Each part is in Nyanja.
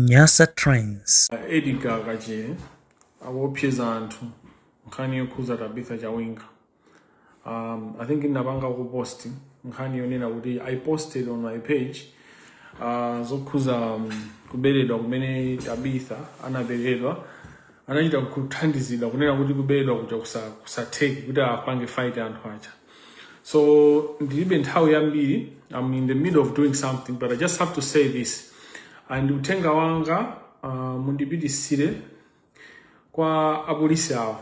Nyasatimes. A Edgar Kachere akuopseza anthu nkhani yokhuza Tabitha Chawinga. Um, I think ndapanga ku post nkhani yonena kuti I posted on my page uh, zokhuza um, kuberedwa kumene Tabitha anaberedwa anachita kuthandizidwa kunena kuti kuberedwa kuja kusa- kusatheki kuti apange fight anthu aja so ndilibe nthawi yambiri i'm in the middle of doing something but i just have to say this and uthenga wanga uh, mundipitisire kwa apolisi awo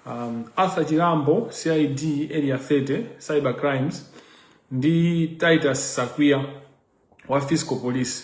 um, arthur chirambo cid area 30 cyber crimes ndi titus sakwiya wa fiscal police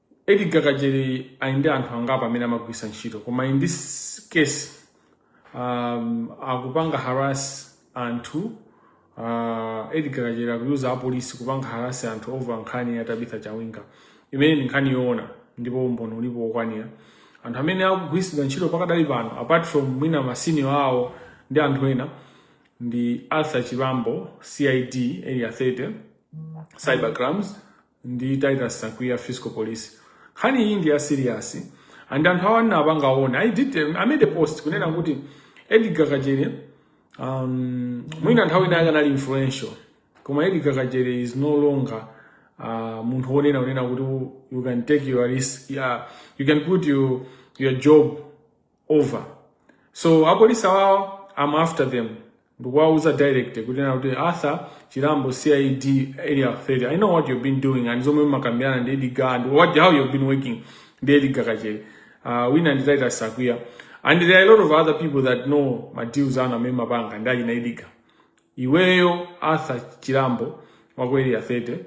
Edgar Kachere ali ndi anthu angapo amene amagwiritsa ntchito koma in this case um, akupanga harass anthu uh, Edgar Kachere akuyuza apolisi kupanga harass anthu over nkhani ya Tabitha Chawinga imene ndi nkhani yoona ndipo umboni ulipo wokwanira anthu amene akugwiritsidwa ntchito pakadali pano apart from mwina masenior awo ndi anthu ena ndi Arthur Chirambo CID area 30 cybercrimes ndi Titus Sakwiya Fiscal Police. Nkhani iyi ndi ya serious and anthu awo ndinawapanga warn. I did I made a post kunena kuti Edgar Kachere um, mwina nthawi ina akanali influential koma Edgar Kachere is no longer uh, munthu wonena unena kuti you can take your risk yeah, you can put your, your job over so apolisi awawa i'm after them ndikuwauza direct kunena kuti arthur chirambo cid area 30 i know what you've been doing and zomwe mumakambirana ndi edgar and what, how you've been working ndi edgar kachere uh, wina ndi titus sakwiya and there are a lot of other people that know madeals anu amene mumapanga ndi achina edgar iweyo arthur chirambo wa ku area 30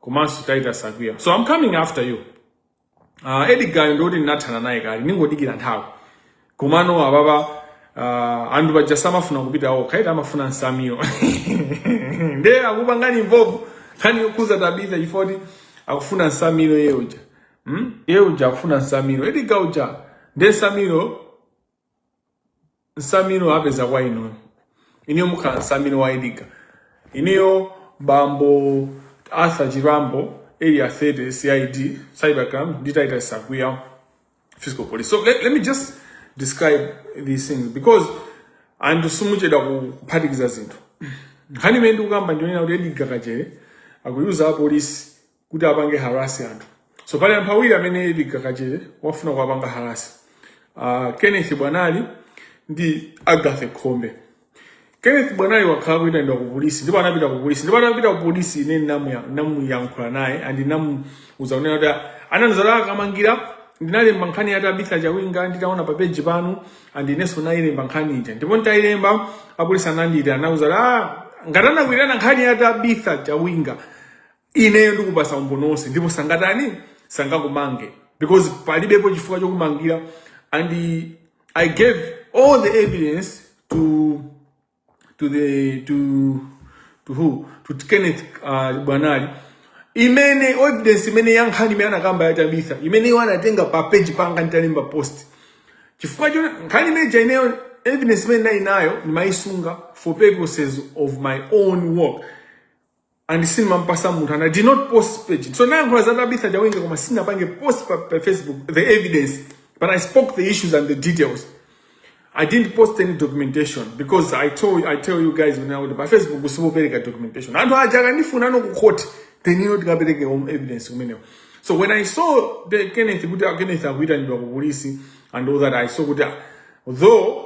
komanso titus sakwiya so i'm coming after you uh, edgar ndi oti ndinathana naye kale ndingodikira nthawi komano apapa uh, anthu paja samafuna kupita okha eti amafuna nsamiro nde akupangani mvovu nkhani yokhuza tabitha chifukwa choti akufuna nsamiro iye uja hmm? iye uja akufuna nsamiro edgar uja nde nsamiro nsamiro apeza kwa inuyo inuyo mukhala nsamiro wa edgar inuyo bambo arthur chirambo area 30 cid cybercrime ndi titus sakwiya fiscal police so let, let me just describe these things because anthu simuchedwa kuphatikiza zinthu nkhani imene ndikukamba ndi yonena kuti edgar kachere akuyuza apolisi kuti apange harass anthu so pali anthu awiri amene Edgar Kachere wafuna kuwapanga harass uh, ah, kenneth bwanali ndi agathe khombe kenneth bwanali wakhala kuyitanidwa ku polisi ndipo anapita ku polisi ndipo anapita ku polisi ine ndinamuyankhula naye and ndinamuuza kunena kuti anzanga akamangidwa ndinalemba nkhani ya Tabitha Chawinga nditaona pa page panu and inenso nayilemba nkhani ija ndipo nditayilemba apolisi anandiitana anauza ah ngati anakwirana nkhani ya Tabitha Chawinga ineyo ndikupasa umboni wonse ndipo sangatani sangakumange because palibepo chifukwa chokumangira and i gave all the evidence to to the to to who to kenneth uh, bwanali imene evidence imene ya nkhani imene anakamba ya tabitha imene iwo anatenga pa page panga nditalemba post chifukwa choti nkhani imene ija ineyo evidence imene ndili nayo ndimayisunga for purposes of my own work and sindimampasa munthu and i did not post pa page so nayankhula za tabitha chawinga koma sinapange post pa, pa facebook the evidence but i spoke the issues and the details i didn't post any documentation because i told i tell you guys when i would pa facebook sindipereka documentation anthu aja akandifuna ine ku court then ine ndikapereke my evidence kumeneko so when i saw the kenneth kuti ah, kenneth akuitanidwa ku polisi and all that i saw kuti ah, though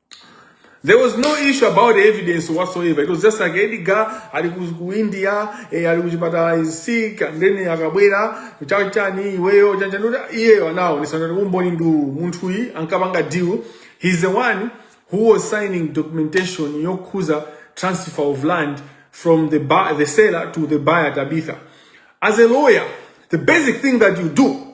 There was no issue about evidence whatsoever. It was just like Edgar ali ku India, eh, ali kuchipatala he's sick and then akabwera chanichani iweyo chanichani kuti iyeyo anaonesa kuti umboni ndi uwu. munthuyi ankapanga deal. He's the one who was signing documentation yokhuza transfer of land from the buy, the seller to the buyer Tabitha. As a lawyer, the basic thing that you do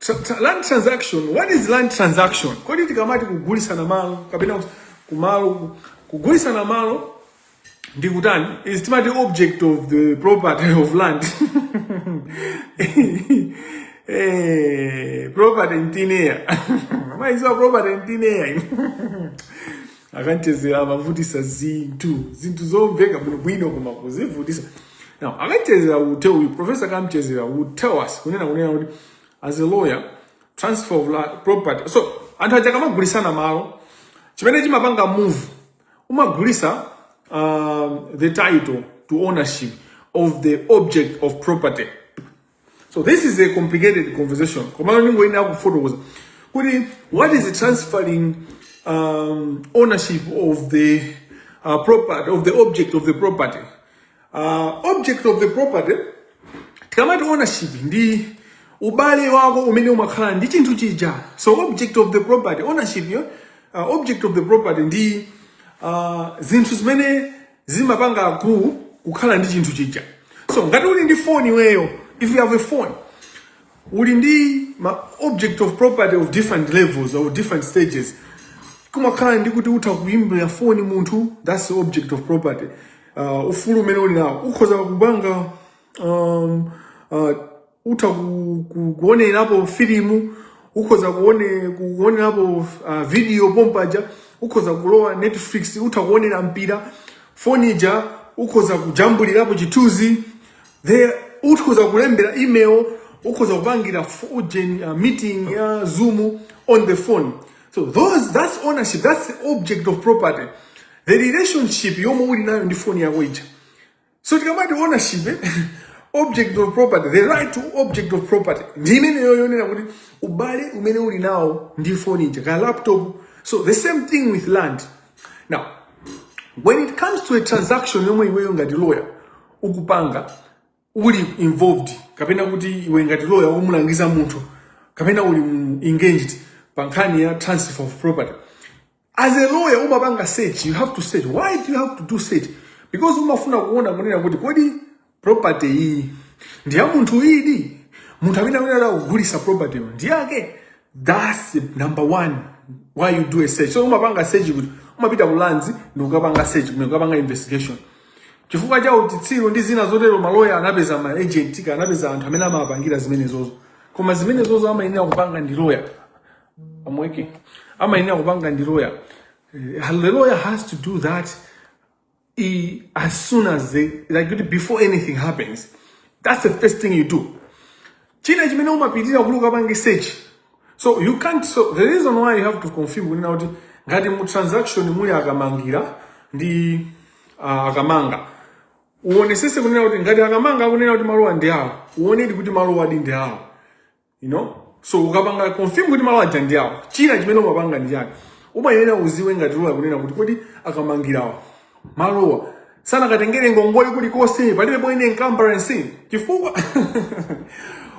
Tra- tra- land transaction what is land transaction kodi tikamati kugulitsana malo kapena kuti kumalo kugulitsana malo ndi kutani is tikamati object of the property of land eh, property in thin air maiziwa property in thin air a Kamchezera amavutitsa zinthu zinthu zomveka bwinobwino koma kuzivutitsa now a Kamchezera uthe uyu professor kamchezera will tell us kunena kunena kuti as a lawyer transfer of la- property so anthu aja akamagulitsana malo chimene chimapanga move umagulitsa um, the title to ownership of the object of property so this is a complicated conversation komano ndingoyenera kufotokoza kuti what is transferring um, ownership of the uh, property of the object of the property uh, object of the property tikamati ownership ndi ubale wako umene umakhala nawo ndi chinthu chija so object of the property ownership yo uh, object of the property ndi uh, zinthu zimene zimapanga akulu kukhala ndi chinthu chija so ngati uli ndi phone iweyo if you have a phone uli ndi ma object of property of different levels or different stages kumakhala ndi kuti utha kuimbira phone munthu that's the object of property uh, ufulu umene uli nawo ukhoza kupanga um, uh, utha ku- ku- kuonerapo filimu ukhoza kuone- kuonerapo uh, video pompaja ukhoza kulowa netflix utha kuonera mpira foni ija ukhoza kujambulirapo chithunzi the ukhoza kulembera email ukhoza kupangira f- ujeni, uh, meeting ya zoom on the phone so those that's ownership that's the object of property the relationship yomwe uli nayo ndi phone yako ija so tikamati ownership eh, object of property the right to object of property ndi imeneyo yonena kuti ubale umene uli nawo ndi foni ija ka laptop so the same thing with land now when it comes to a transaction yomwe iweyo ngati lawyer ukupanga uli involved kapena kuti iwe ngati lawyer umulangiza munthu kapena uli mu- engaged pa nkhani ya transfer of property as a lawyer umapanga search you have to search why do you have to do search because umafuna kuona kunena kuti kodi property iyi ndi ya munthudi munthu amene amene akugulisa propertyyo ndi yake that's the number one why you do a search so umapanga search kuti umapita ku lands ndi ukapanga search kumene ukapanga investigation chifukwa cha uchitsiru ndi zina zotero maloya anapeza ma agent ka anapeza anthu amene amapangira zimenezozo koma zimenezozo amayenera kupanga ndi lawyer amweke amayenera kupanga ndi loya Eh, the lawyer has to do that eh, as soon as they like kuti before anything happens that's the first thing you do china chimene umapitira kuti ukapange search so you can't so the reason why you have to confirm kunena kuti ngati mu transaction muli akamangira ndi ah, akamanga uonesese kunena kuti ngati akamanga akunena kuti malowa ndi awo uonedi kuti malowadi ndi awo you know so ukapanga confirm kuti malo aja ndi awo china chimene umapanga ndi chakuti umayenera uziwe ngati loya kunena kuti kodi akamangirawa malowa sanakatengere ngongole kulikonse palibe pomwe encumbrance chifukwa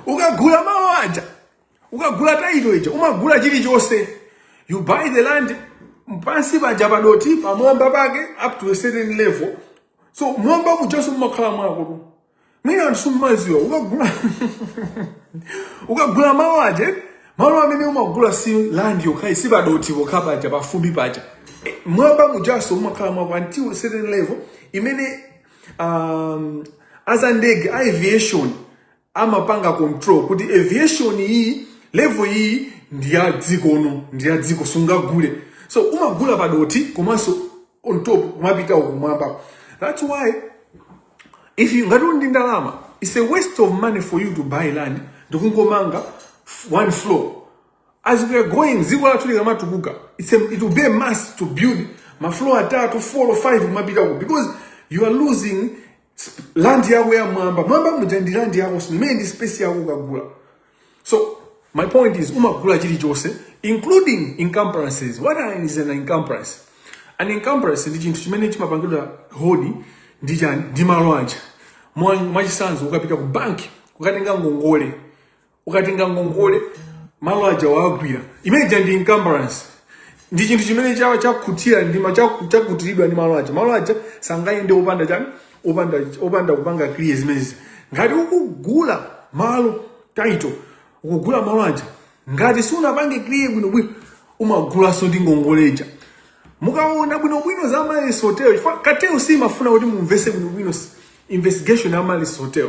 ukagula malo aja ukagula title ija umagula chilichonse you buy the land pansi paja padoti pamwamba pake up to a certain level so mwamba mujaso mumakhala mwakotu mwina anthu simmaziwa ukagula ukagula malo aja malo amene umagula si land yokha ayi si padothi pokha paja pafumbi paja Eh, m'mwamba mujanso umakhala mwako until a certain level imene um, a za ndege a aviation amapanga control kuti aviation iyi level iyi ndi ya dziko uno ndi ya dziko sungagule so umagula padothi komanso on top kumapita kumwamba that's why if you ngati uli ndi ndalama it's a waste of money for you to buy land ndikungomanga one floor as we are going dziko lathu likamatukuka it's a, it will be a must to build ma floor atatu four or five kumapita ku because you are losing land yako ya m'mwamba m'mwamba muja ndi land yakonso imene ndi space yako ukagula so my point is umagula chilichonse including encumbrances what are- is an encumbrance an encumbrance ndi chinthu chimene chimapangidwa hold ndi chani ndi malo aja Mwa- mwachisanzo ukapita ku banki ukatenga ngongole ukatenga ngongole malo aja wagwira imene ija ndi encumbrance ndi chinthu chimene chawa chakutira ndi ma- chaku- chakutiridwa ndi malo aja malo aja sangayende opanda chani opanda opanda kupanga clear zimenezi ngati ukugula malo title ukugula malo aja ngati sunapange clear bwino bwino umagulanso ndi ngongole ija mukaona bwino bwino za Amaryllis Hotel chifukwa cartel simafuna kuti mumvese bwino bwino investigation ya Amaryllis Hotel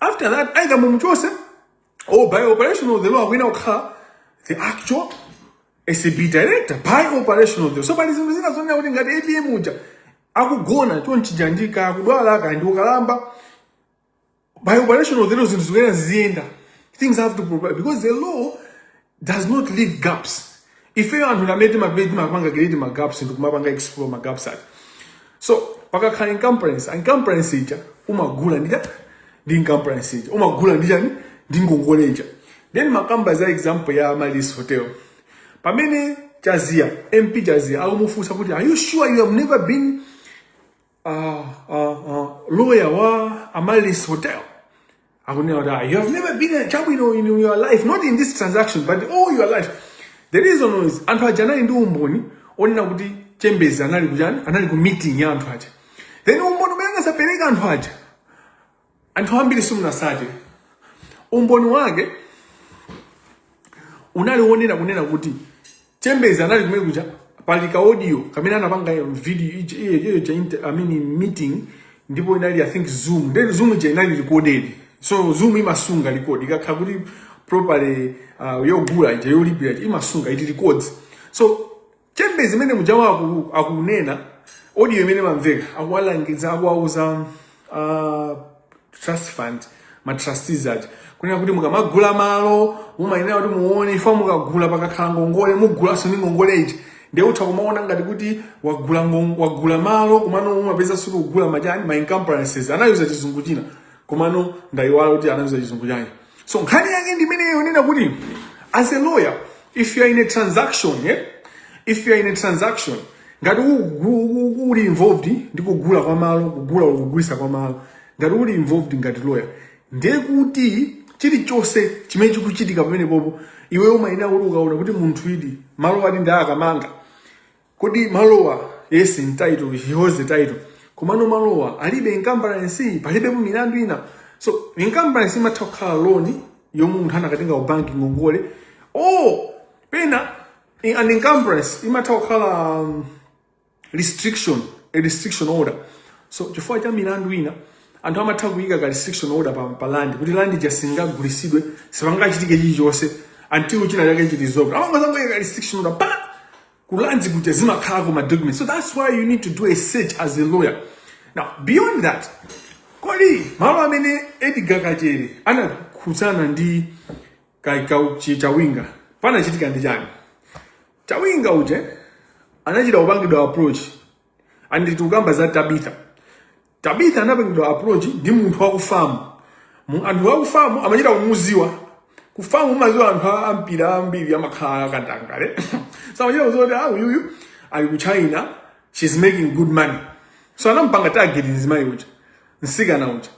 after that either mumuchotse or by operation of the law akuyenera kukhala the actual acb director by operation of the law so pali zinthu zina zonena kuti ngati apm muja akugona chonchija ndi kakudwala kaya ndi ukalamba by operation of the law zinthu zikuyenera ziziyenda things have to progress because the law does not leave gaps ifeyo anthu ndamene timapita timapanga create ma gaps ndi kumapanga explore ma gaps aja so pakakhala encumbrance encumbrance ija umagula ndi chani ndi encumbrance ija umagula ndi chani ndi ngongole ija then ndimakamba za example ya amaryllis hotel pamene chaziya mp chaziya akumufunsa kuti are you sure you have never been uh, uh, uh, lawyer wa Amaryllis Hotel akunena kuti ah, you have never been a chabwino in your life not in this transaction but all your life the reason is anthu aja anali ndi umboni onena kuti chembezi anali kuchani anali ku meeting ya anthu aja then umboni umene anakapereka anthu aja anthu ambiri simunatsate umboni wake unali wonena kunena kuti chembezi anali kumene kuja pali ka audio kamene anapanga video ija- iyo- iyo ija inter- I mean meeting ndipo inali i think zoom then zoom ija inali recorded so zoom imasunga record ikakhala kuti properly uh, yogula ija yolipira ija imasunga it records so chambers imene mujawa aku- akunena audio imene imamveka akuwalangiza akuwauza uh, trust fund ma trustees aja kunena kuti mukamagula malo mumayenera kuti muone if mukagula pakakhala ngongole mugulanso ndi ngongole ija ndiye utha kumaona ngati kuti wagula ngon- wagula malo komano umapezaso ukugula maujeni ma encumbrances anayuza chizungu china komano ndayiwala kuti anayuza chizungu chani so nkhani yake ndi imeneyo yonena kuti as a lawyer if you are in a transaction yeah? if you are in a transaction ngati uli involved ndi kugula kwa malo kugula kugulisa kwa malo ngati uli involved ngati lawyer ndiye kuti chilichonse chimene chikuchitika pamenepopo iwe umayenera kuti ukaona kuti munthuyudi malo ati ndi a kamanga kodi malowa yes in title he holds the title komano malowa alibe encumbrance palibe mu milandu ina so encumbrance imatha kukhala loan yomwe munthu anakatenga ku banki ngongole oh pena in- an encumbrance imatha kukhala um, restriction a restriction order so chifukwa cha milandu ina anthu amatha kuyika ka restriction order pa, pa land kuti land ija singagulitsidwe sipangachitike chilichonse until china chake chilizoka amangozangoyika ka restriction order pa ku lands kuja zimakhalako ma documents so that's why you need to do a search as a lawyer now beyond that kodi malo amene edgar kachere anakhudzana ndi ka- ka- chi- chawinga panachitika ndi chani chawinga uje anachita kupangidwa approach and tikukamba za tabitha tabitha anapangidwa approach ndi munthu wa ku fam Mu- anthu wa ku fam amachita kumuziwa ku fam umaziwa anthu a- ampira ambiri amakhala akatangale so amachita kuziwa kuti ah uyuyu ali ku china she's making good money so anampanga target mzimayi uja msikana uja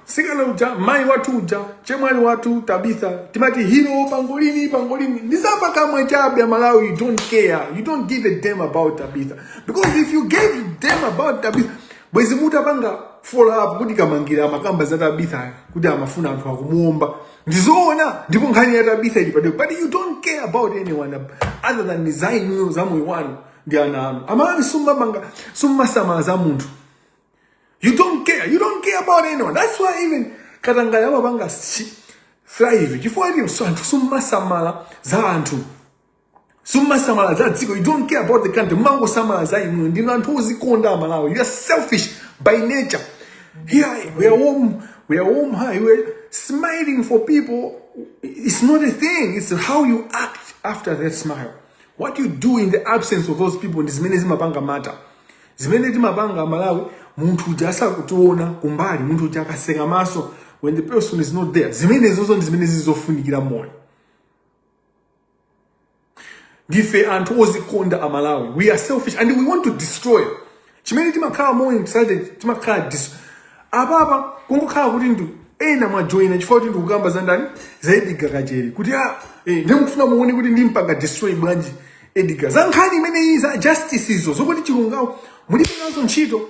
sikana uja mai wathu uja chemwali wathu tabitha timati hero pangolini pangolini ndi zapakamwa chabe amalawi you don't care you don't give a damn about tabitha because if you gave a damn about tabitha bwezi mutapanga follow up kuti kamangila amakamba za tabitha kuti amafuna anthu akumuomba ndizoona ndipo nkhani ya tabitha ili padeko but you don't care about anyone other than design za moyo wanu ndi ana anu amalawi sumamanga simumasamala za munthu You don't care. You don't care about anyone. That's why even katangale amapanga thrive chifukwa choti anthu simumasamala za anthu simumasamala za dziko you don't care about the country mmangosamala za inuyo ndinu anthu ozikonda amalawi you are selfish by nature here we are warm we are warm heart we are smiling for people it's not a thing it's how you act after that smile what you do in the absence of those people ndi zimene zimapanga matter zimene timapanga amalawi munthu uja asakutiona kumbali munthu uja akatseka maso when the person is not there zimenezozo ndi zimene zili zofunikira moyo ndife anthu ozikonda amalawi we are selfish and we want to destroy chimene timakhala more excited timakhala dis apapa kungokhala kuti ndi ena mwajoyina chifukwa kuti ndikukamba za ndani za Edgar Kachere kuti a eh, nde mufuna muone kuti ndimpanga destroy bwanji Edgar, za nkhani imeneyi za justice izo zokuti chilungamo mulibe nazo ntchito.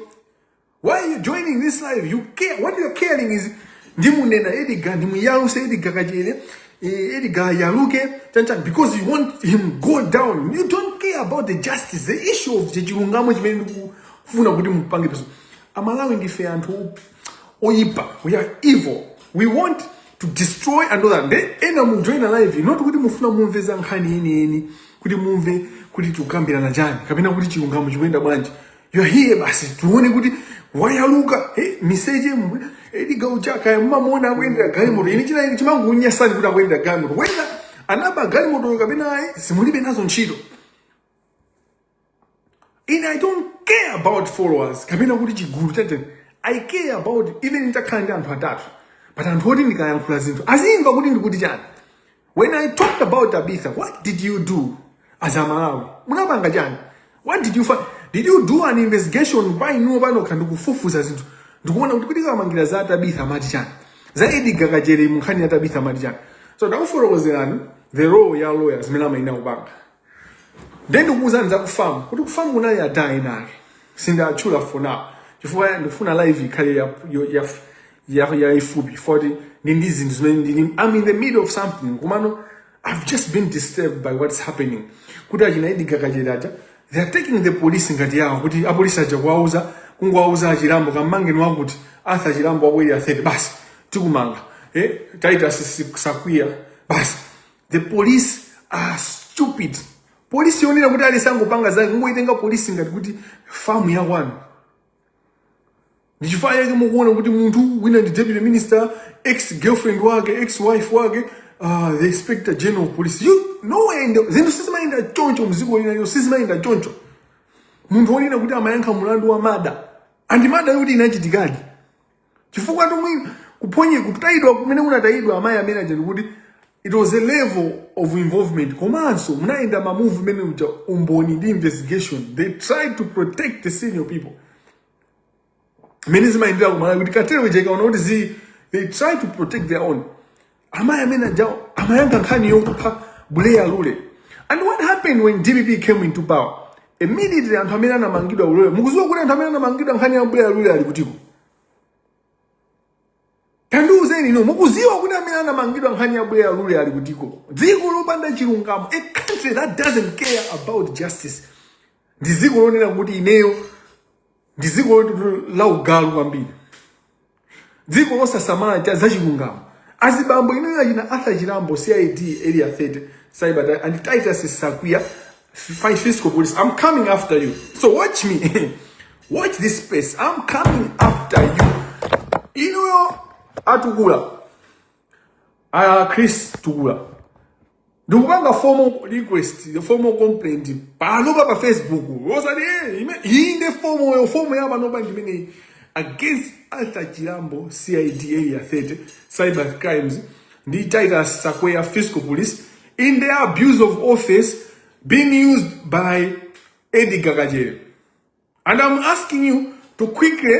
Why are you joining this live? You care. What you are caring is ndimunena Edgar, ndimuyaluse Edgar Kachere, eh, Edgar ayaluke, chani chani, because you want him go down. You don't care about the justice, the issue of chilungamo chimene ndikufuna kuti mupange pursue. Amalawi ndife anthu oyipa. We are evil. We want to destroy another nde ena mujoina live not kuti mufuna mumve za nkhani yeniyeni kuti mumve kuti tikukambirana chani kapena kuti chilungamo chikuyenda bwanji you're here basi tione kuti wayaluka hey, miseche mwe Edgar uja kaya mumamuona akuyendera galimoto ini china chimangunyasani kuti akuyendera galimoto whether anaba galimotoyo kapena ayi simulibe nazo ntchito ine i don't care about followers kapena kuti chigulu chete i care about even nitakhala ndi anthu atatu but anthu oti ndikayankhula zinthu azimva kuti ndikuti chani when i talked about tabitha what did you do as amalawi munapanga chani what did you find did you do an investigation pa inuwo panokha ndikufufuza zinthu ndikuona kuti kuti kamangira za tabitha mati chani za Edgar Kachere mu nkhani ya tabitha mati chani so ndakufotokozerani the role ya lawyer zimene amayenera kupanga Ndiye ndikukuuzani za kufamu kuti kufamu kunali ada ena ake sindiatchula for now chifukwa ndikufuna live ikhale ya- yo- ya- ya- yaifupi poti ndi ndi zinthu zimene ndili I'm in the middle of something komano I've just been disturbed by what's happening kuti achina Edgar Kachere aja they are taking the police ngati yawo kuti apolisi aja kuwauza kungowauza a Chilambo kamangeni wakuti atha Chilambo wakwera 30 basi tikumanga eh Titus Sakwiya basi the police are stupid polisi yonena kuti aliyense angopanga zake kungoitenga polisi ngati kuti famu ya kwanu ndichifukwa chake mukuona kuti munthu wina ndi deputy minister ex girlfriend wake ex wife wake uh, the inspector general of police you nowhere in the zinthu sizimayenda choncho mziko lina lino sizimayenda choncho munthu wonena kuti amayankha mulandu wa murder and murder yoti inachitikadi chifukwa tomwe kuphonye kutayidwa kumene unatayidwa amayi amene aja ndi kuti it was a level of involvement komanso munayenda ma move imene uja umboni ndi investigation they tried to protect the senior people mmene zimayendera kumalawi kuti cartel ija ikaona kuti zi they try to protect their own amayi amene ajawo amayankha nkhani yokupha buleya lule and what happened when dpp came into power immediately anthu amene anamangidwa ulule mukuziwa kuti anthu amene anamangidwa nkhani ya buleya lule ali kutiko tandiuzeni inu mukuziwa kuti amene anamangidwa nkhani ya buleya lule ali kutiko dziko lopanda chilungamo a country that doesn't care about justice ndi dziko lonena kuti ineyo ndi dziko loti la ugalu kwambiri dziko losasamala cha zachilungamo azibambo inuyo achina arthur chilambo cid area 30 cyber and titus sakwiya fi- fiscal police i'm coming after you so watch me watch this space i'm coming after you inuyo atukula a chris tukula ndikupanga formal request formal complaint panopa pa facebook osati eh, ime- iyi nde fomo yo fomo ya panopa ndimeneyi against arthur chilambo cid area 30 cyber crimes ndi titus sakwiya fiscal police in their abuse of office being used by edgar kachere and i'm asking you to quickly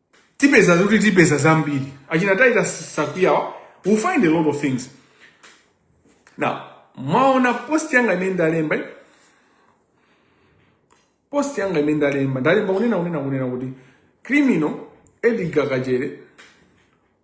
tipeza kuti tipeza zambiri achina titus sakwiyawa we'll find a lot of things now mwaona post yanga imene ndalemba eh? post yanga imene ndalemba ndalemba kunena kunena kunena kuti criminal edgar kachere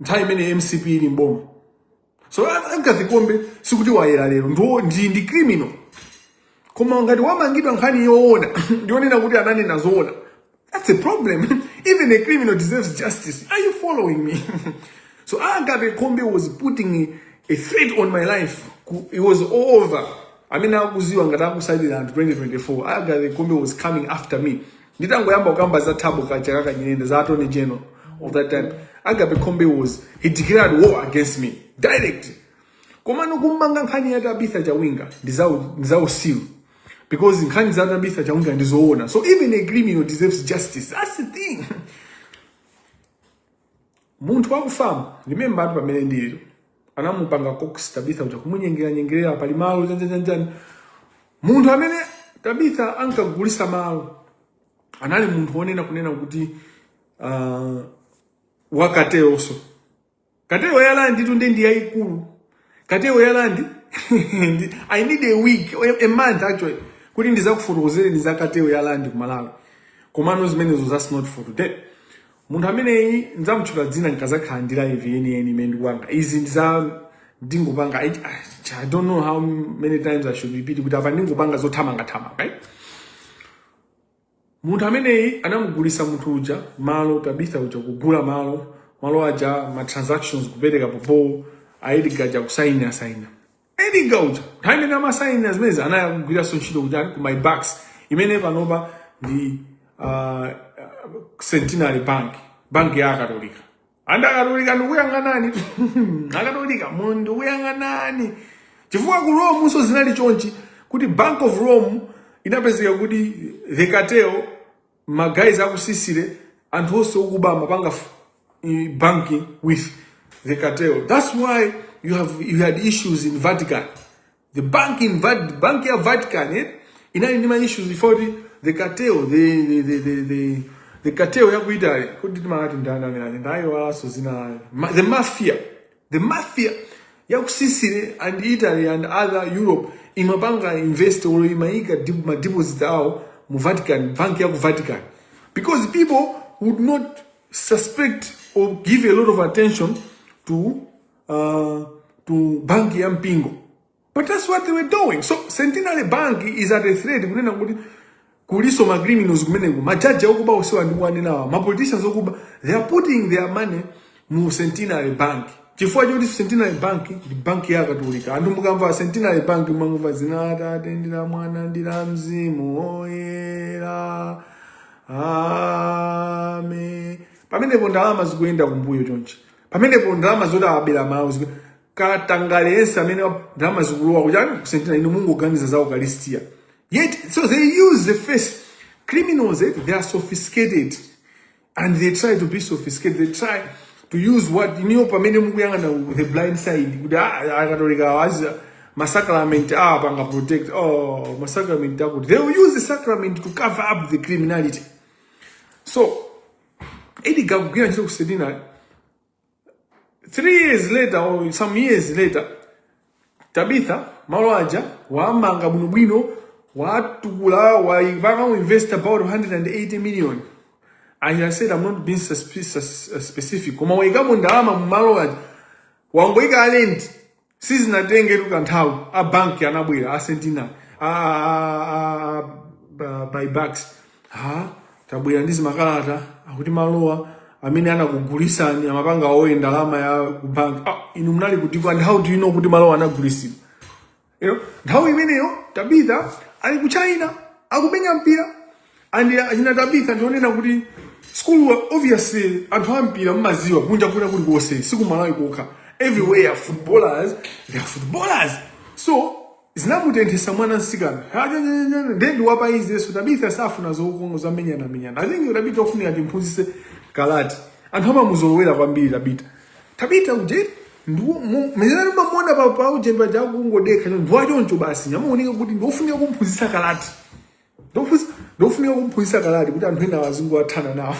nthawi imene mcp ili m'boma so agape khombe sikuti wayera lero ndiwo ndi ndi criminal koma ngati wamangidwa nkhani yoona ndiyonena kuti ananena zoona that's a problem even a criminal deserves justice are you following me so agape khombe was putting a, a threat on my life Ku- it was all over amene akuziwa ngati akusatira anthu 2024 agape khombe was coming after me nditangoyamba kukamba za thabo kachakaka nyirenda za attorney general of that time agape khombe was he declared war against me direct komano kummanga nkhani ya tabitha chawinga ndi zau- ndi zausiru because nkhani za tabitha chawinga ndizoona so even a criminal deserves justice that's the thing munthu wakufamu remember atu pamene ndiliro anamupanga coax tabitha kuti kumunyengera nyengerera pali malo chanchanchanchani munthu amene tabitha ankagulisa malo anali munthu wonena kunena kuti uh, wa cartelso cartel ya landitu nde ndi yayikulu Cartel ya land I need a week a month actually kuti ndizakufotokozereni za cartel ya land ku Malawi. Komano zimenezo that's not for today. Munthu ameneyi ndzamutchula dzina nkazakhala ndi live yeniyeni imene ndikupanga. Izi ndiza ndingopanga I, I don't know how many times I should repeat kuti apa ndingopanga zothamanga thamanga. Right? Munthu ameneyu anamugulisa munthu uja malo Tabitha uja kugula malo malo aja ma transactions kupereka POP a Edgar aja kusaini asaina Edgar uja nthawi imene amasainira zimenezi anali akugwiranso ntchito kuja ku MyBucks imene panopa ndi uh, Centenary Bank banki ya Akatolika ande akatolika ndikuyang'anani akatolika mukundiyang'anani chifukwa ku rome nso zinali chonchi kuti bank of rome inapezeka kuti the cartel magayizi aku Sicily anthu onse okuba amapanga f- i- banking with the cartel that's why you have you had issues in vatican the bank in Vat, bank ya Vatican eh, inali ndi ma issues before the, the cartel the the the the, the, the cartel ya ku Italy kuti timakati ndani amene ali ndayo walanso dzina lawo Ma, the mafia the mafia ya ku Sicily and Italy and other Europe imapanga invest or imaika dip- ma deposit awo mu Vatican bank ya ku Vatican because people would not suspect or give a lot of attention to uh, to banki ya mpingo but that's what they were doing so centenary bank is at a threat kunena kuti kuliso ma criminals kumeneko majaji okuba osewa ndikuwanenawa ma politicians okuba they are putting their money mu centenary bank chifukwa choti centenary bank ndi banki ya katolika anthu mukamva centenary bank mumamva dzina la atate ndi la mwana ndi la mzimu oyera amen pamenepo ndalama zikuyenda kumbuyo chonchi pamenepo ndalama zoti awabera malawi zikwe katangale yense amene wa- ndalama zikulowa kuchani ku Centenary inu mungoganiza za ukalistia yet so they use the face criminals eh, they are sophisticated and they try to be sophisticated they try to use what inuyo pamene mukuyang'ana ku the blind side kuti ah, akatolika awazi masacrament awapanga protect oh masacrament akuti they will use the sacrament to cover up the criminality so Edgar akugwira ntchito ku Centenary. Three years later or some years later, Tabitha malo aja wamanga bwinobwino watukula wapangamo invest about 180 million. And I said I'm not being suspicious, uh, specific. Koma waikamo ndalama mu malo aja wangoika alenti sizinatengetu nthawi a banki anabwera a Centenary a, a, a, a, a MyBucks ha tabwera ndi zimakalata akuti malowa amene anakugulisani amapanga owe ndalama ya ku bank ah, inu munali kuti kwa and how do you know kuti malowa anagulisidwa you know, nthawi imeneyo tabitha ali ku china akumenya mpira and achina tabitha ndionena kuti school obviously anthu ampira mmaziwa kunja kuno kuli konse siku malawi kokha everywhere footballers they are footballers so zinamutenthesa mwana msikana nde ndi wapa easy so tabitha safuna zokongo zomenyana menyana i think tabitha ofunika timphunzise karate anthu amamuzolowera kwambiri tabitha tabitha ujeni mezerani mamona pa pa ujeni paja kungodekha ndiwachoncho basi amaoneka kuti ndiofunika kumphunzisa karate ndofunika kumphunzitsa karate kuti anthu enawo azingothana nawo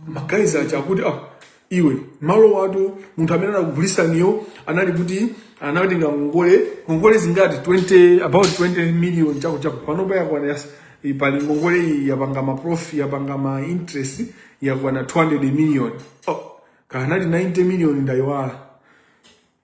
ma guys aja akuti ah, iwe malo awatu munthu amene anakugulitsaniyo anali kuti anatenga ngongole ngongole zingati 20 about 20 million chako chako panopa yakwana yas- i- pali ngongole iyi yapanga ma prof yapanga ma interest yakwana 200 million oh, kanali 90 million ndayiwala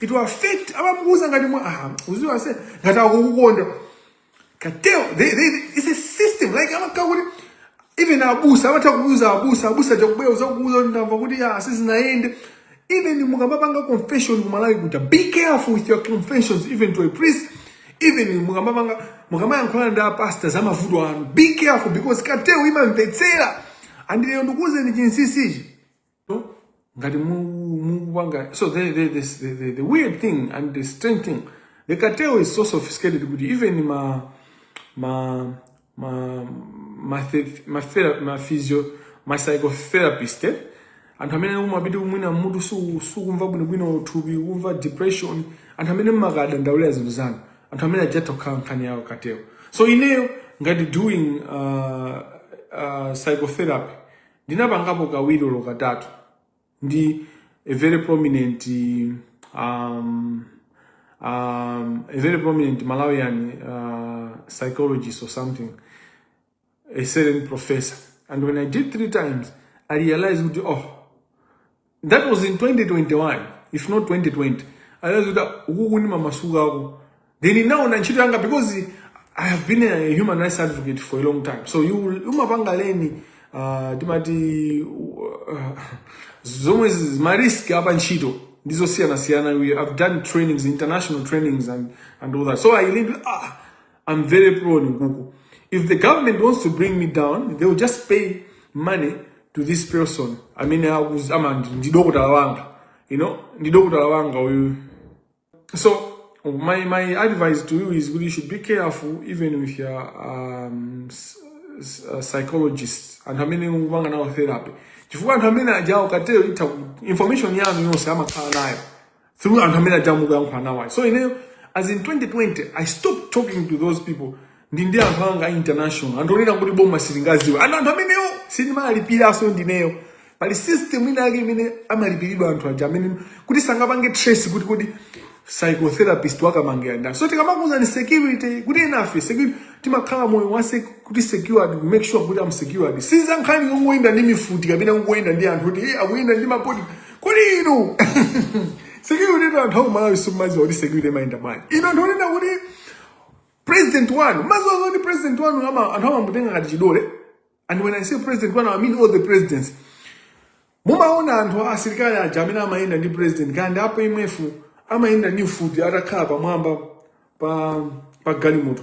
it will affect amakuuza ngati mwa aha uziwa se ngati akukukonda cartel they, they, it's a system like amakhala kuti even abusa amatha kuuza abusa abusa atha kubwera kuzakuuza kuti ndamva kuti ya sizinaende even mukamapanga confession kumalawi kuja be careful with your confessions even to a priest even mukamapanga mukamayankhulana ndi apasta za mavuto anu be careful because cartel imamvetsera and ineyo ndikuuzeni chinsisichi ngati mukupanga so the, the, the, the, the weird thing and the strange thing the cartel is so sophisticated kuti even ma ma ma ma, the, ma, thera, ma physio ma psychotherapist eh? anthu amene umapita kuti mwina mutu su- sukumva bwinobwino thupi kumva depression anthu amene mmakadandawulira zinthu zanu anthu amene aja atha kukhala nkhani ya cartel so ineyo ngati doing uh, uh, psychotherapy ndinapangapo kawiri olo katatu ndi a very prominent um, um, a very prominent malawian uh, psychologist or something a certain professor and when i did three times i realized kuti oh That was in 2021 if not 2020. I realized kuti ukuku ndimamasukako. Then ndinaona ntchito yanga because I have been a human rights advocate for a long time. So you umapanga learn uh, timati uh, zomwe zi- ma risk a pa ntchito ndizosiyana siyana we have done trainings international trainings and and all that so i really ah I'm very pro on Google. If the government wants to bring me down, they will just pay money to this person. I mean, I was, I'm a ndidokotala you know, ndidokotala wanga. So, my, my advice to you is you should be careful even with your um, uh, psychologist and how many wanga now therapy. Chifukwa anthu amene ajawo katero itha information yanu yonse amakhala nayo. through anthu amene aja mukuyankhula nawo ayi so ineyo as in 2020 i stopped talking to those people ndi ndi anthu anga a international anthu onena kuti boma silingaziwe ana anthu amenewo sindimalipiraso ndineyo pali system ina yake imene amalipiridwa anthu aja amene kuti sangapange trace kuti kodi psychotherapist wa kamangila ndani so tikamakuuzani security kuti enafe security timakhala moyo wa sec- kuti secured make sure kuti am secured siza nkhani yongoyenda ndi mifuti kapena kungoyenda ndi anthu kuti eh akuyenda ndi ma body kodi inu security inu anthu akumalawi simumaziwa kuti security imayenda bwanji inu anthu onena kuti president wanu maziwa zoti president wanu ama- anthu amamutenga ngati chidole and when i say president wanu i mean all the presidents mumaona anthu asilikali aja amene amayenda ndi president kandi apa imwefu amayenda ndi mfuti atakhala pamwamba pa pa galimoto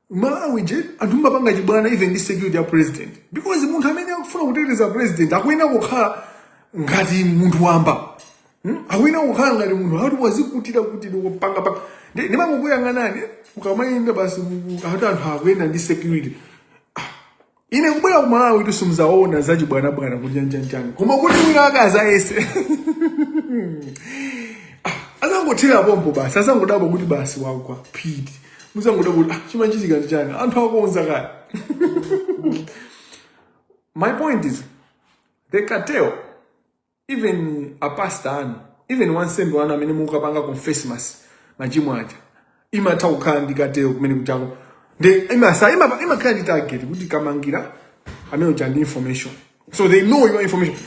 Malawi che anthu mumapanga chibwana even ndi security ya president because munthu amene akufuna kuteteza president akuyenera kukhala ngati munthu wamba Hmm? akuyenera kukhala ngati munthu akuti wazikutira kuti ndikupanga pa ndi- ndimangokuyang'anani ukamayenda basi mu- mu- akuti anthu akuyenda ndi security Ah, ine kubwera ku malawi kuti simudzaona za chibwanabwana kuti chanichanichani koma kuti wina wake azayese azangothera pompo basi azangodabwa kuti basi wagwa phiti muzangodabwa kuti ah, chimachitika ndi chani anthu akonza kale my point is the cartel even a pastor anu even wansembe wanu amene mukapanga confess ma- machimo aja imatha kukhala ndi cartel kumene ku church ko ndiye imasa ima imakhala ndi target kuti kamangira amene uja ndi information so they know your information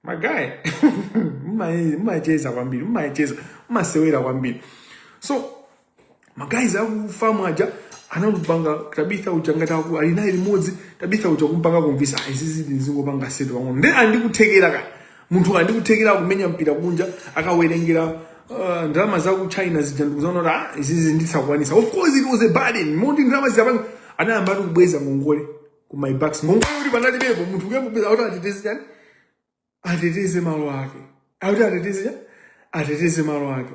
my guy mmacheza kwambiri mmacheza mmasewera kwambiri so magayizi akufamu aja anamupanga tabitha uja ngati akuti ali naye limodzi tabitha uja kumpanga kumvisa "Ah, izi ziti ndizingopanga setu pang'ono ndi andikuthekera ka munthu andikuthekera kumenya mpira kunja akawerengera uh, ndalama za ku china zija ndikuzaona kuti ah, izizi ndizakwanisa of course it was a burden moti ndalama zidapanga anayamba ati kubweza ngongole ku MyBucks ngongole kuti panalibepo munthu kuyambubweza kuti ateteze chani ateteze malo ake akuti ateteze cha ateteze malo ake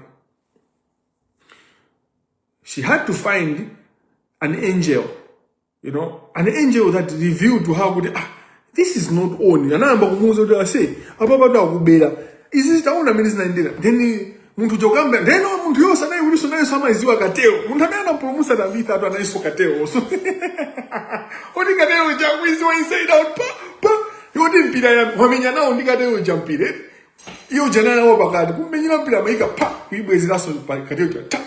she had to find an angel you know an angel that revealed to her kuti ah this is not on anayamba kumuuza kuti ase apa patu akubera izi taona mmene zinayendera then munthu uja kamba then munthu yonse nayekutinso nayenso amayiziwa cartel munthu amene anapulumusa tabitha ndi wa nayenso cartel nso woti cartel uja akuyiziwa inside out pa pa yoti mpira ya- wamenya nawo ndi cartel uja mpira eti iyo uja nawo pakati kummenyera mpira amayika pa kuyibwezeranso pa cartel uja ta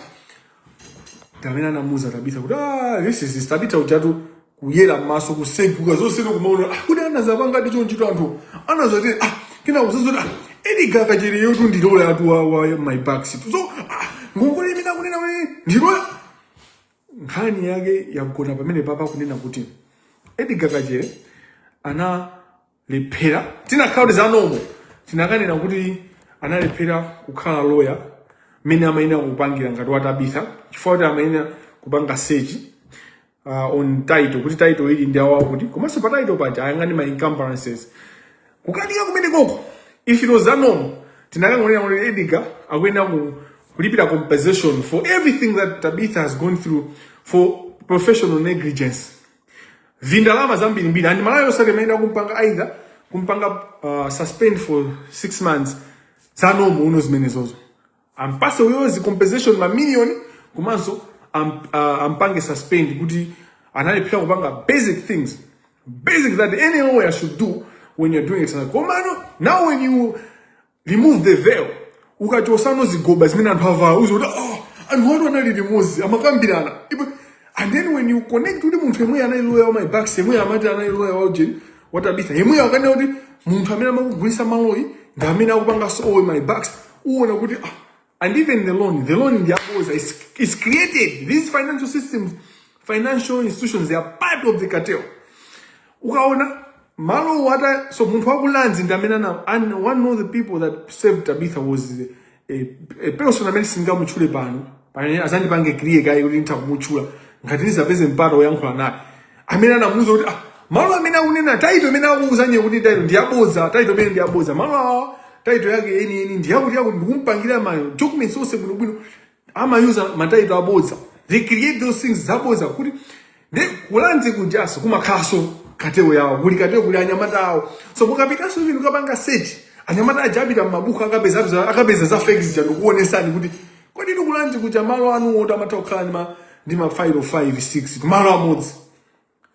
amene anamuza tabitha kuti ah this is this tabitha ujatu kuyera m'maso kuseguka zonse kumaona ah, kuti anazapangadi chonchito anthu anazati ah, kenako zazoti ah, Edgar Kachereyotu ndi lawyer tu wa, wa MyBucks so ah, ngongole imene akunena kuti ndi lawyer nkhani yake yagona pamene papa kunena kuti Edgar Kachere ana analephera chinakakhala kuti za NOMO tinakanena kuti analephera kukhala loya mmene amayenera kupangira ngati watabitha chifukwa kuti amayenera kupanga sechi uh, on title kuti title ili ndi awawa kuti komanso pa title paja ayang'ane ma encumbrances kukanika kumene koko if it was za NOMO tinakangonena kuti Edgar akuyenera ku kulipira compensation for everything that tabitha has gone through for professional negligence vindalama zambirimbiri and Malawi Law Society imayenera kumpanga either kumpanga uh, suspend for six months za NOMO uno zimenezozo ampase uyozi compensation mamiliyoni komanso am, uh, ampange suspend kuti analephera kupanga basic things basic that any lawyer should do when you're doing exercise komano now when you remove the veil ukachosano zigoba zimene anthu avala uziti oh, anthu awatu anali limodzi amakambirana Ipo- and then when you connect kuti munthu yemweyo anali loya wa my backs yemweyo amati anali loya wa ujeni wa Tabitha yemweyo akanena kuti munthu amene amakugulisa malowo ndi amene akupanganso own my backs uona kuti ah, And even the loan, the loan in the apples is, is created. These financial systems, financial institutions, they are part of the cartel. Ukaona, malo wata, so muntu waku lands in Damenana, and one of the people that saved Tabitha was a, a person amene singamuchule pano, pano azandipange kriye kaye kuti nitha kumuchula, ngati nizapeze mpata oyankhula naye. amene anamuuza kuti ah, malo amene akunena taito imene akuuzani kuti taito ndi yabodza taito imene ndi yabodza malo awa taito yake yeniyeni ndi yakuti yakuti ndikumpangira ma documents onse bwinobwino amayuza mataito abodza they create those things zabodza kuti ndi ku Lands kujaso kumakhalaso katewo yawo kuli katewo kuli anyamata awo so mukapitanso inu kapanga search anyamata aja apita m'mabuku akapeza apeza- akapeza za fake zija ndikuonesani kuti kodi ku Lands kuja malo anuwotu amatha kukhala ndi ma- ndi mafailo 5 6 kumalo amodzi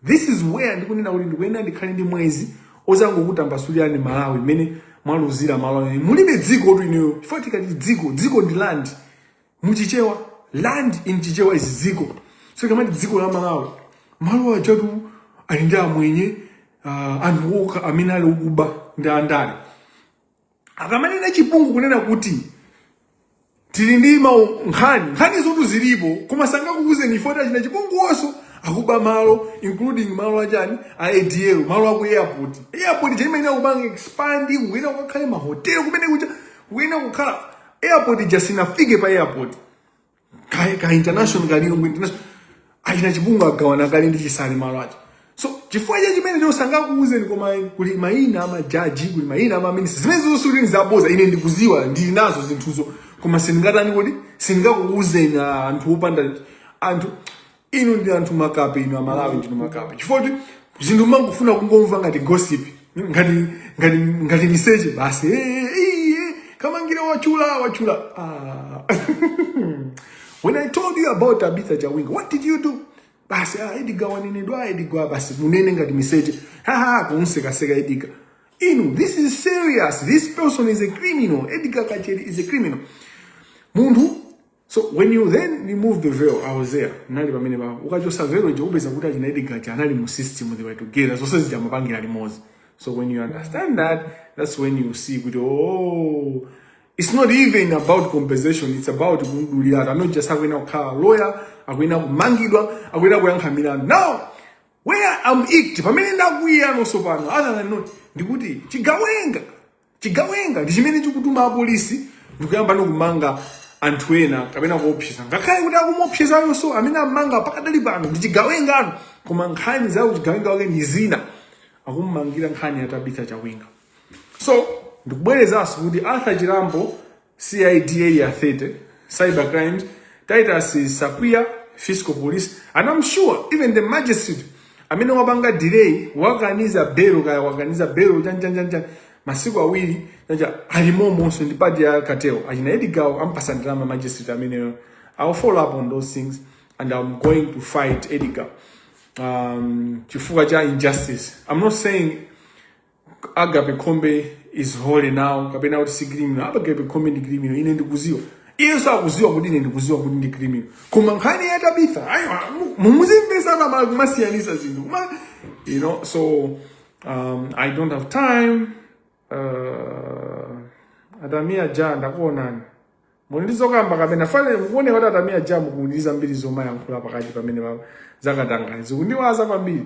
this is where ndikunena kuti ndikuyenera ndikhale ndi mwezi ozangokutambasulirani malawi mmene mwaluzira malo anu mulibe dzikotu inuyo chifukwa tikati dziko dziko ndi land muchichewa land in chichewa is dziko so tikamati dziko la malawi malo ajatu ali ndi amwenye uh, anthu okha amene ali okuba ndi andale akamanena chipungu kunena kuti tili ndi mu nkhani nkhanizotu zilipo koma sangakuuzeni chifukwa achina Chipungu onso akuba malo including malo achani a ADL malo aku airport airport ija imayenera kupanga expand kuyenera kukakhale mahotelo kumene kuja kuyenera kukhala airport ija sinafike pa airport ka, ka international kali ngati international achina Chipungu agawana kale ndi Chisale malo aja so chifukwa chake chimenecho sangakuuzeni koma kuli mayina amajaji kuli mayina amaminisita zimenezo sikuti ndi zaboza ine ndikuziwa ndili nazo zinthuzo koma sindingatani kodi sindingakuuzeni ah, anthu opanda anthu inu ndi anthu makape inu amalawi ndinu makape chifoti zinthu mangofuna kungomva ngati gossip ngati ngati ngati miseche basi Eh, eh, eh, kamangire wachula wachula ah. when i told you about tabitha chawinga what did you do basi ah, edgar wanenedwa edgar basi munene ngati miseche haha kumsekaseka edgar inu this is serious this person is a criminal edgar kachere is a criminal munthu So when you then remove the veil, I was there. Nali pamenepa. Ukachosa veil je upeza kuti achina Edgar je anali mu system they were together. Zonse zija amapangira limozi. So when you understand that, that's when you see kuti oh it's not even about compensation, it's about kumdulira. I'm not just having a car lawyer, akuyenera kumangidwa, akuyenera kuyankha milandu. Now, where I'm irked, pamene ndakwiyano sopano, other than not, ndikuti chigawenga Chigawenga ndi chimene chikutuma apolisi ndikuyambano kumanga anthu ena kapena kuopseza ngakhale kuti akumuopsezayonso amene ammanga pakadali pano ndi chigawenganso koma nkhani za uchigawenga wake ndi zina akummangira nkhani ya Tabitha Chawinga so ndikubwerezanso kuti Arthur Chirambo CID Area 30, cyber crimes, Titus Sakuya, fiscal police, and I'm sure even the magistrate amene wapanga delay wakaniza belo kaya wakaniza belo chanchanchancha masiku awiri chacha alimomonso ndi part ya cartel achina Edgar-wo ampasa ndalama magistrate ameneyo i'll follow up on those things and i'm going to fight Edgar-wo um, chifukwa cha injustice i'm not saying agape khombe is holy now kapena kuti si criminal apa agape khombe ndi criminal ine ndikuziwa iyeso akuziwa kuti ine ndikuziwa kuti ndi criminal koma nkhani ya tabithayo mumuzimvesa pamala kumasiyanisa zinthu kuma you know so um, i don't have time uh, a tamia ja ndakuonani muli ndi zokamba kapena fale mukuoneka kuti a tamia ja mukuuliza mbiri zomayankhula pakati pamenepa zakatangale zikundiwaza kwambiri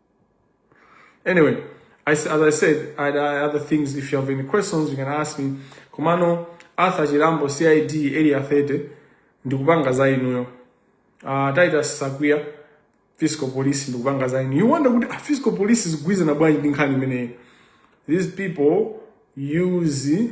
Anyway, I, as I said, I had other things. If you have any questions, you can ask me. Komano, Arthur Chirambo, CID, Area 30, ndikupanga za inuyo. Uh, Titus Sakuya, Fiscal Police, ndikupanga za inuyo. You wonder kuti ah, Fiscal Police zikugwirizana bwanji ndi nkhani imeneyi. These people use